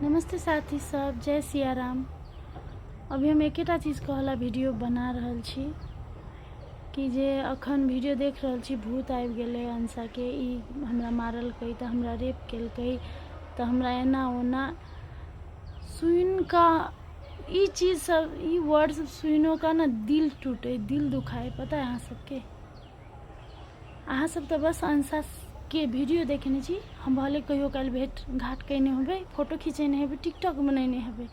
नमस्ते साथी सब जय सिया राम अभी हम एकेटा चीज कहला वीडियो बना रहल छी कि जे अखन वीडियो देख रहल छी भूत आबि गेलै अंशाके ई हमरा मारलकै तऽ हमरा रेप केलकै तऽ हमरा एना ओना सुनि कऽ ई चीज सब ई वर्ड सब सुनिओ कऽ ने दिल टूटे दिल दुखाए पता है अहाँ सबके अहाँ सब तऽ बस अंशा के वीडियो देखने छी हम भले कहियो काल भेट घाट कयने हेबै फोटो खिंचेने हेबै टिकटॉक बनेने हेबै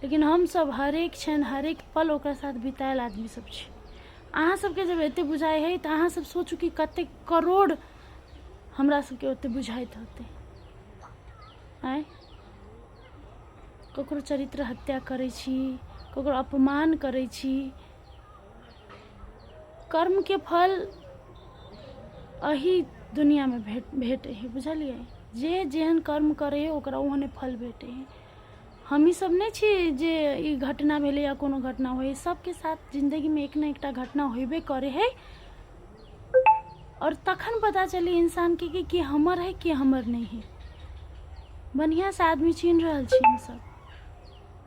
लेकिन हम सब हरेक क्षण हरेक पल ओकरा साथ बितायल आदमी सब छी अहाँ सबके जब एते बुझाइ है तऽ अहाँ सब सोचू कि कते करोड़ हमरा सबके ओते बुझाइत होतै आँय ककरो चरित्र हत्या करै छी ककरो अपमान करै छी कर्मके फल अही दुनियामे भेट भेटै है बुझलियै जे जेहन कर्म करै है ओकरा ओहने फल भेटै है हमही सब नहि छी जे ई घटना भेलै या कोनो घटना होइ सबके साथ जिन्दगीमे एक ने एकटा घटना होइबे करै है और तखन पता चली इंसान के कि के हमर है के हमर नहीं है बढ़िया से आदमी चीन रहल छी हम सब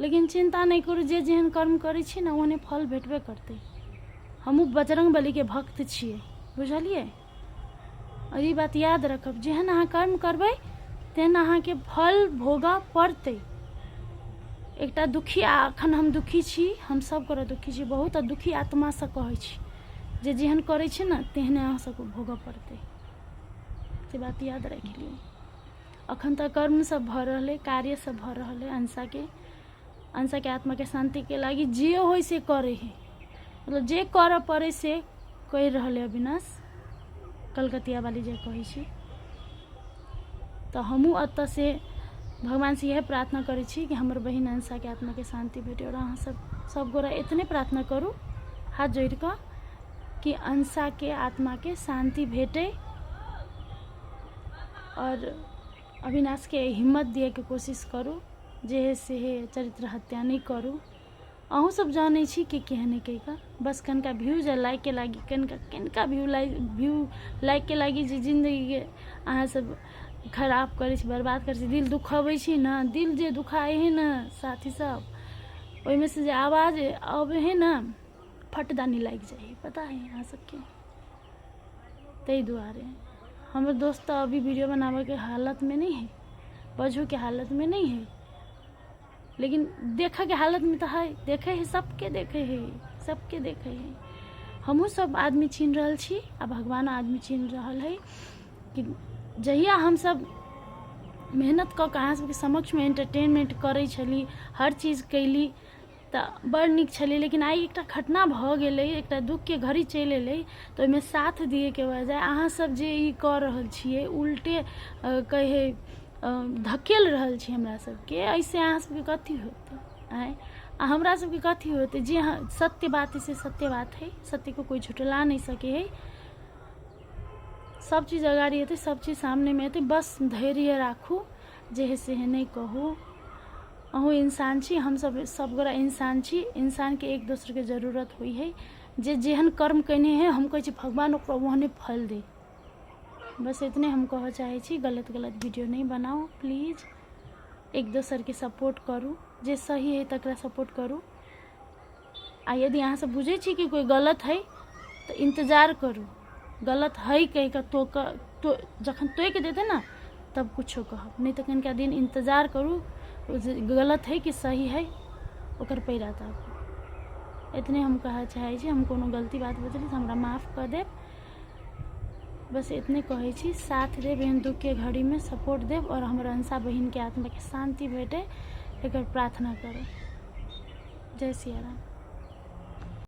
लेकिन चिन्ता नहि करू जे जेहन कर्म करै छी ने ओहने फल भेटबे करतै हमहूँ बजरङ्ग बलीके भक्त छियै बुझलियै आओर ई बात याद रखब जेहन अहाँ कर्म करबै तेहन अहाँके फल भोगऽ पड़तै एकटा दुखी आ एखन हम दुखी छी हम सब करऽ दुखी छी बहुत आ दुखी आत्मासँ कहै छी जे जेहन करै छै ने तेहने अहाँ सबके भोगऽ पड़तै से बात याद राखि लियौ अखन तऽ कर्म सब भऽ रहल अइ कार्य सब भऽ रहल अइ अंशाके अंशाके आत्माके शान्तिके लागि जे होइ से करै है मतलब जे करऽ पड़ै से कहि रहल अइ अविनाश कलकतिया वाली जे कहै छी तऽ हमहूँ एतऽ से भगवान से इएह प्रार्थना करै छी कि हमर बहिन अंशाके आत्माके शान्ति भेटै आओर अहाँ सब सब गोरा एतने प्रार्थना करू हाथ जोड़ि कऽ कि अंशाके आत्माके शान्ति भेटै आओर अविनाशके हिम्मत दिएके कोशिश करू जे हे से हे चरित्र हत्या नहि करू अहूँ सब जानै छी कि केहन है कहिका बस कनिका व्यू जे लाइक के लागी कनिका कनिका व्यू लाइक व्यू लाइक के लागी जे जिन्दगीके अहाँ सब खराब करै छी बर्बाद करै छी दिल दुखबै छी ने दिल जे दुखाइ है ने साथी सब ओहिमे से जे आवाज अबै है ने फटदानी लागि जाइ हइ पता हइ अहाँ सबके ताहि दुआरे हमर दोस्त तऽ अभी वीडियो बनाबैके हालतमे नहि हइ बजहोके हालतमे नहि हइ लेकिन देखैके हालतमे तऽ हइ देखै हइ सबके देखै हइ सबके देखै हइ हमहूँ सब आदमी छीन रहल छी आ भगवान आदमी छीन रहल हइ कि जहिया हमसब मेहनत कऽ कऽ अहाँ सबके समक्षमे एंटरटेनमेंट करै छली हर चीज कयली तऽ बड़ नीक छलै लेकिन आइ एकटा घटना भऽ गेलै एकटा दुःखके घड़ी चलि एलै तऽ ओहिमे साथ दिएके बजाय अहाँसभ जे ई कऽ रहल छियै उल्टे अ, कहे अ, धकेल रहल छी हमरा सभके एहिसँ अहाँ सभके कथी होतै आँय आ हमरा सभके कथी होतै जे अहाँ- सत्य बात है से सत्य बात है सत्यको कोइ झुटला नहि सके है सब चीज अगाडि हेतै सब चीज सामनेमे हेतै बस धैर्य राखू जे है से नहीं कहू अहू इंसान छी हम सब सब गोरा इंसान छी इंसान के एक दोसर के जरूरत हुई है जे जेहन कर्म कने है हम कहे भगवान ओकरा ओहने फल दे बस इतने हम कह चाहे छी गलत गलत वीडियो नहीं बनाओ प्लीज एक दोसर के सपोर्ट करू जे सही है तक सपोर्ट करू आ यदि अहाँ सब बुझे छी कि कोई गलत है तो इंतजार करू गलत है कह के तो, तो जखन तोक देते ना तब कुछो कह नहीं तो कनिका दिन इंतजार करू गलत है कि सही है ओकर पैरा तब इतने हम कह चाहे हम कोनो गलती बात बजली तो हमारा माफ़ कर देव बस इतने कहै छी साथ देव एहन दुखके घड़ीमे सपोर्ट देव आओर हमर अंशा बहिनके आत्माके शान्ति भेटै एकर प्रार्थना करब जय सिया राम